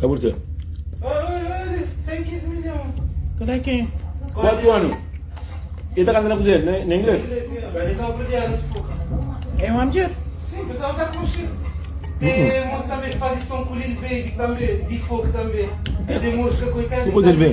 Ka bu ten. Kuatu anu. El ta kanta na kuzina na ingles? Kuzê el ben?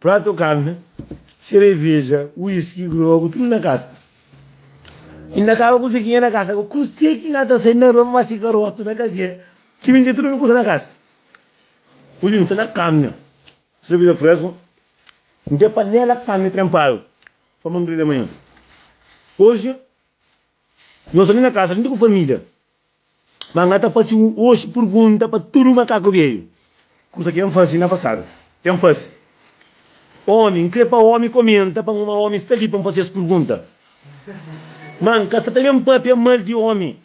Pratu, karni, sereveja, whisky, grogu, tudu na kasa. I na kaba kuse ki nha na kasa. Kuse ki nha ta sai na rua pa fasi karotu na kafé ki minte tudu mi kuse na kasa. Uju nte na karni, sereveja fresku, nte panela karni tenpadu pa mangri de manha. Oji, no soli na kasa, nte ku familia. Má N ta faze oji pergunta pa tudu makaku beiu, kuza ki N faze na pasadu. Ten faze. Ómi, N krê pa ómi komenta pa N, má ómi sta li pa N faze es pergunta. Má N ka sta ta ben pâpia mal di ómi.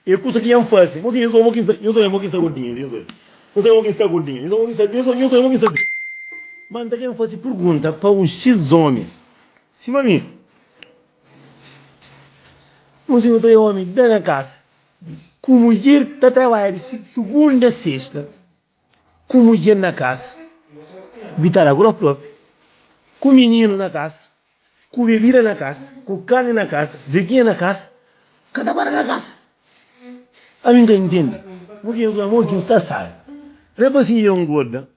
É kuza ki N faze. Nhos obi mo ki N sta, nhos obi mo ki N sta gordinha li. Nhos obi. Nhos obi mo ki N sta gordinha. Nhos obi mo ki N sta bês. Nhos obi mo ki N sta bês. Má N ta ben faze pergunta pa un xis ómi, sima mi. Un si un ta e omi da nha kasa, ku mudjer ki ta trabadja di sugunda a sesta, ku mudjer na kasa, bitada ku nos propi, ku mininu na kasa, ku bebida na kasa, ku karni na kasa, zetinha na kasa, ka ta para na kasa. Ami N ka ntende purkê, purkê amor ki N sta sabe. Rapaszinhu dja N gorda.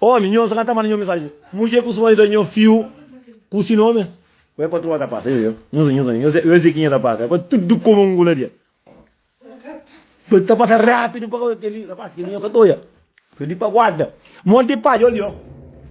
Omi, Nho sa ka ta manda nho mensaji. Mudjer ku suma di da nho fiu ku si nomi. Ku el patrua ta pasa, yo, yo. Nho sa, nho sa, nho sa ki nha ta pasa. El faze tudu kuma un gula di el. Tudu ta pasa rapidu pa kau. Kel li, rapaz, kel li nho ka ta oja. Kel li pa guarda. Mon di paja, ol, yo.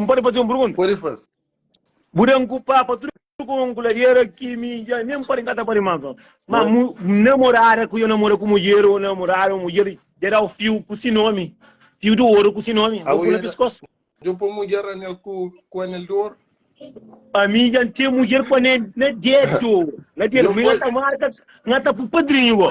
N pode faze un pergunta? Pode faze. Bu da N kupá pa tudu ku un kuladera ki mi dja nen pode kata pa rimas no. Ma mu, namorada ku yo namora ku mudjer o namoradu o mudjer dja dau fiu ku si nomi, fiu di oru ku si nomi, Abu bu na ya da. piskos. Djo pa mudjer anel ku ku anel di oru. Ami dja N ten mudjer ku anel na dedu, na dedu. Mi Djo pa. nga ta marka, nga ta ku padrinhu bo.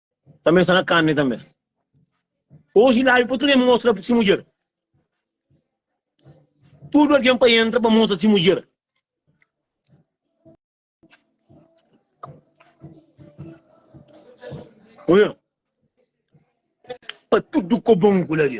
Tanbê el sta na karni tanbê. Oji la, el pode krê mostra pa si mudjer. Tudu algen pa entra pa mostra si mudjer. Oiu? Pa tudu kobon ku la di.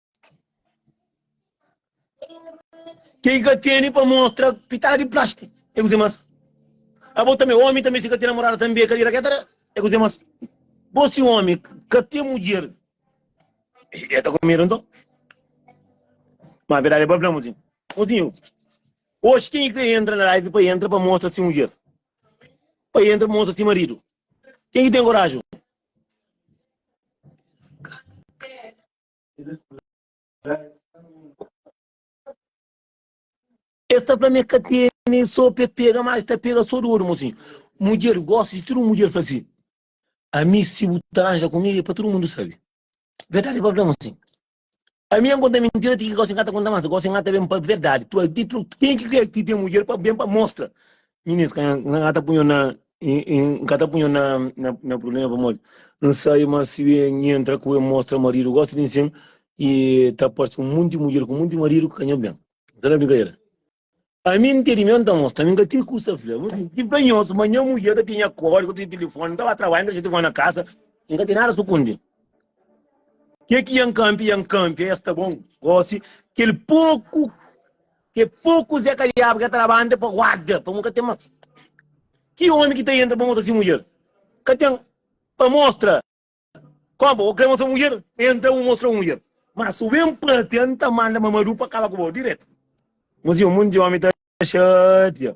Ke i ka tene pa mostra pitala di plastiki e kuze mas. Abo tambi, omi tambi si ka ten namorada tambi e ka dira ketara e kuze mas. Bo si omi ka ten mudjer e ta ku medu nton. Ma verdadi bo fla muzinhu, muzinhu oxi ken i kre entra na live pa entra pa mostra si mudjer, pa entra pa mostra si maridu, ken ki ten koraji? Es ta fla mi ka tene so pe pega mas ta pega so di odu mosinhu. Mudjer gosta di tudu mudjer fla si ami si bu ta ranja ku mi e pa tudu mundu sabi. Verdadi pa fla mosinhu. Ami N konta mintira ti ki gosi N ka ta konta mas gosi N ka ta ben pa verdadi. Tuas di tru ken ki kre ki ten mudjer pa ben pa mostra Minis ka na ta punho na N ka ta punho na na problema pamodi N sabe ma si N yentra ku el mostra maridu gosta di nsin i ta parse un monti mudjer ku monti maridu ka nho ben. N sta na brinkadera. Ami N tene mi N ta mostra ami ka ten kusa fla bu si ki ben nhos ma nha mudjer ka ten nha kódigu ka ten telefoni N ta ba trabadja N ta dexa telefoni na kasa N ka ten nada sukundi ke ki ya N kanpia ya N kanpia ya sta bon gosi kel poku Ke poku Zé Kaliaba ka traba ante pa guarda, pamo ka ten mas. Ki omi ki ta entra pa mostra si mudjer? Ka ten pa mostra. Kompa, bo kre mostra mudjer? Entra bu mostra bu mudjer. Mas su ben papia, N ta manda Mamadou pa kaba ku bo diretu. Mostra si un monti omi ta xatia.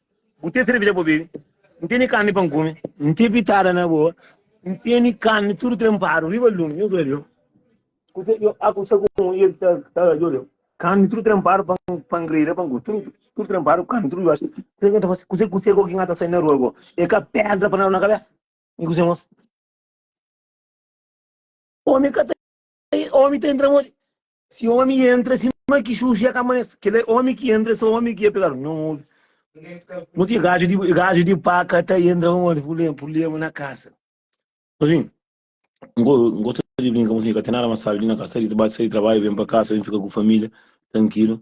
Bu ten serveja pa bu bebe, N tene karni pa N kume. N ten pitada na boa, N tene karni tudu trenpadu riba lumi. Nhos oja djobe, kuzê ki N haja ku un i el ta djobe? Karni tudu trenpadu pa N grida, pa N kume. Tudu trenpadu, karni tudu djobe. Kuzê ki N ta fase? Kuzê ki N haja ta sai na rua goa? É ka pédra pa N daba na kabésa? I kuzê nhos? Ómi ka ta. Ómi ta entra modi? Si omi entra sima ki xuxi e ka amanese. Kila omi ki entra e so omi ki e pekador. Nau obi. Mos ki gaju di paka ta entra un omi ku purblema na kasa. Obi, N gosta di brinka, mos ki ka ten nada mas sabi di na kasa. Ta dita, bati, sai di trabadju, ben pa kasa, ben fika ku familia trankilu.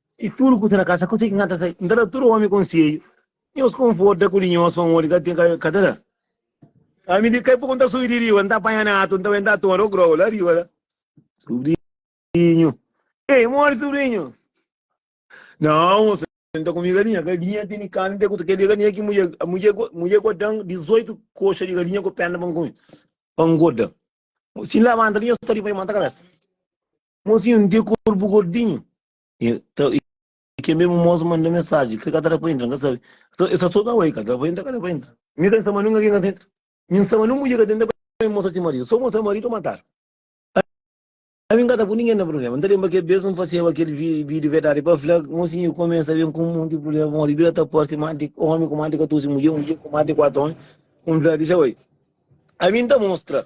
I tudu ku ten na kasa, ku se ki nganta sai? N ta da tudu omi konsedju, nhos konforta ku di nhos pamodi ka ten, ka ta da. Ami di kai poku N ta subi di riba, N ta panha natu, N ta bai, N ta toma o grau la riba la. Subrinhu, Ei, modi subrinhu? Nau, mosu, N ta kume galinha, galinha ten di karni, te ku ta keda galinha ki mudjer, mudjer, mudjer gosta dan 18 koxa di galinha ku perna pa N kume, pa N gorda. Si N labanta li, nhos ta riba i manta kabesa. Mozinhu, N tê korpu gordinhu. E ta, e ke mesmu mozu manda mensaji, kre ka ta da pa intra, N ka sabe. Nton, e sa so da oi, ka da pa intra, ka da pa intra. Mi ka N sama nunga ke ka ta intra. Mi N sama nun mudjer ka ta intra pa mi mostra si maridu. So mostra maridu, matadu. Ami N ka ta pui ningen na prubléma. N ta lenbra kel bes N faseba kel vi, vídiu verdadi pa fla, mozinhu, e kumesa ben ku un monti prubléma pamodi e bira ta parse más di ómi ku más di 14 mudjer, mudjer ku más di 4 ómi. N fla, dixa oi. Ami N ta mostra.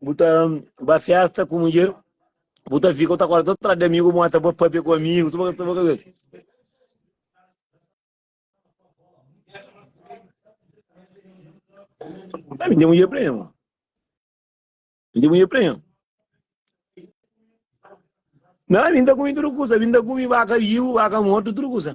Bu ta ba festa ku mudjer, bu ta fika, bu ta acorda todo trás de amigo, bu ta ba papia ku amigo, tuba tuba tuba. Tá me deu um prêmio. Me deu um prêmio. Não, me dá comida tudo coisa, me dá comida vaca viu, vaca morto, tudo coisa.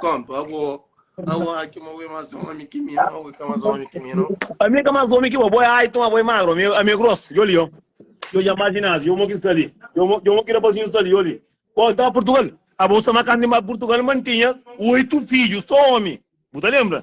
Kompa, abo, abo aki ma ue mas omi ki mi, ma ue ka mas omi ki mi, no. Ami ka mas omi ki bo, bo é aitu, ma bo é magru, ami, ami é gros, yo li, yo, yo ja ma ginásio, yo mo ki sta li, yo mo, yo mo ki rapazinhu sta li, yo li. Bo ta Purtugal? Abo sta ma kantu mi ba Purtugal, ma n'tinha oitu fidju, so omi, bu ta lembra?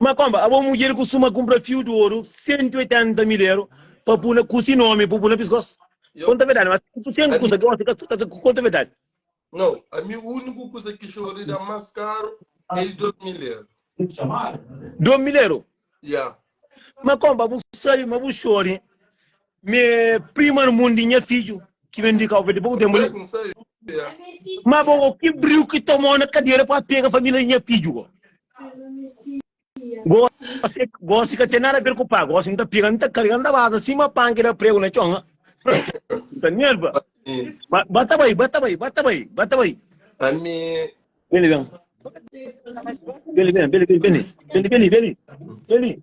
Má kónba abo mudjer kustuma kunpra fiu di oru sentu otenta mil eru pa pui na kusi nómi pa bu pui na piskósu? Konta verdadi, ma si bu ten ki kusa ki gosi, ka ta konta verdadi. Nau, ami úniku kusa ki Xori da más karu é di dos mil eru. Dos mil eru? Ya. Má kónba bu sabe ma bu Xori Me prima no mundo nha fidju ki ben di Cabo Verde pouco tempo li. Ma bo go ki briu ki tomou na cadeira pa pega família di nha fidju go. Gosi, gosi ka tem nada a ver com pá, gosi nta pega, nta carga, nta baza assim ma pá que dá prego na chão, ah. Nta nerva. Ba- Bata bai, bata bai, bata bai, bata bai. Ami. Beli, bem. Beli, bem, beli, beli, beli. Beli, beli, beli. Beli.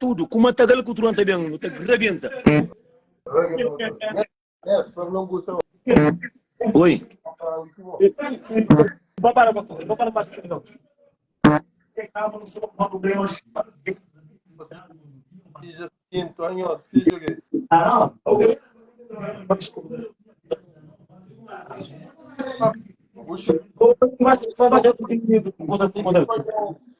tudu ku matagal ku tron ta ben nu ta rabenta oi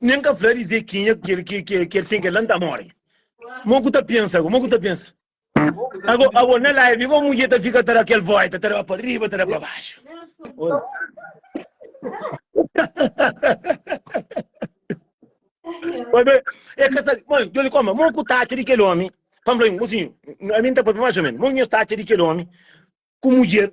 Nen ka fla di Zekinha ku kel ki kel sen kel la N ta móre. Mo ku ta pensa ago? Mo ku ta pensa ago? Ago na live bo mudjer ta fika ta da kel vóita, ta da pa riba, ta da pa baxu. Oi be, e ka sabe. Mo, Joli Koma, mo ku ta atxa di kel ómi? Pa N fla-i, mosinhu, ami N ta papia más o ménus. Mo nhos ta atxa di kel ómi ku mudjer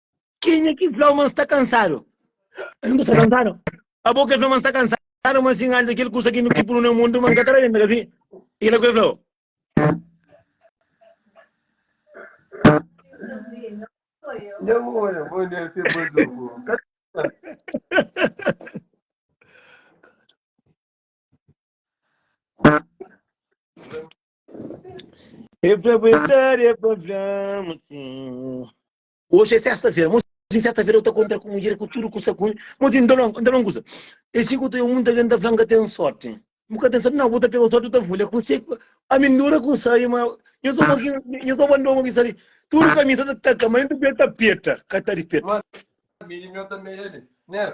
Kenha ki flau ma N sta kansadu? N ta sta kansadu? Abo ke flau ma N sta kansadu, ma sin antis kel kusa ki nu ki punu na mundu, ma N ka ta renda ka fin. I kila ku el flau. E flau, e flau, e flau, flau, ma sin. Oji é sesta-fera, mos di seta-fera eu ta kontra ku mudjer ku tudu kusa ku mos di ndalon, ndalon kusa. E si ku ta eu munta gen ta flan ka ten sorti. Bu ka ten sorti nau, bu ta pega sorti ta vulha ku se a mi ndura ku sai ma nho so mo ki nho so bandon mo ki sali tudu ka mi ta ta ka ma nho ta peta ka ta di peta. Madi mi ta medi ne.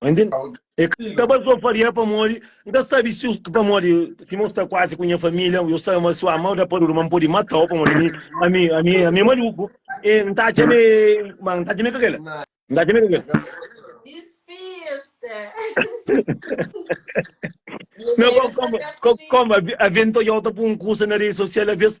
Entende? E ka ba so faria pamodi N ta sabi si yo, pamodi sima yo sta kuazi ku nha familia, yo sabi ma si yo ama-u da paduru, ma N podi mata-u pamodi ami, ami, ami, ami e maluku. E N ta atxa ma e, ma N ta atxa ma e ka kel. N ta atxa ma e ka kel. Nau, koma, koma, koma, avi N ta odiau ta pui un kusa na redi sosial, alvês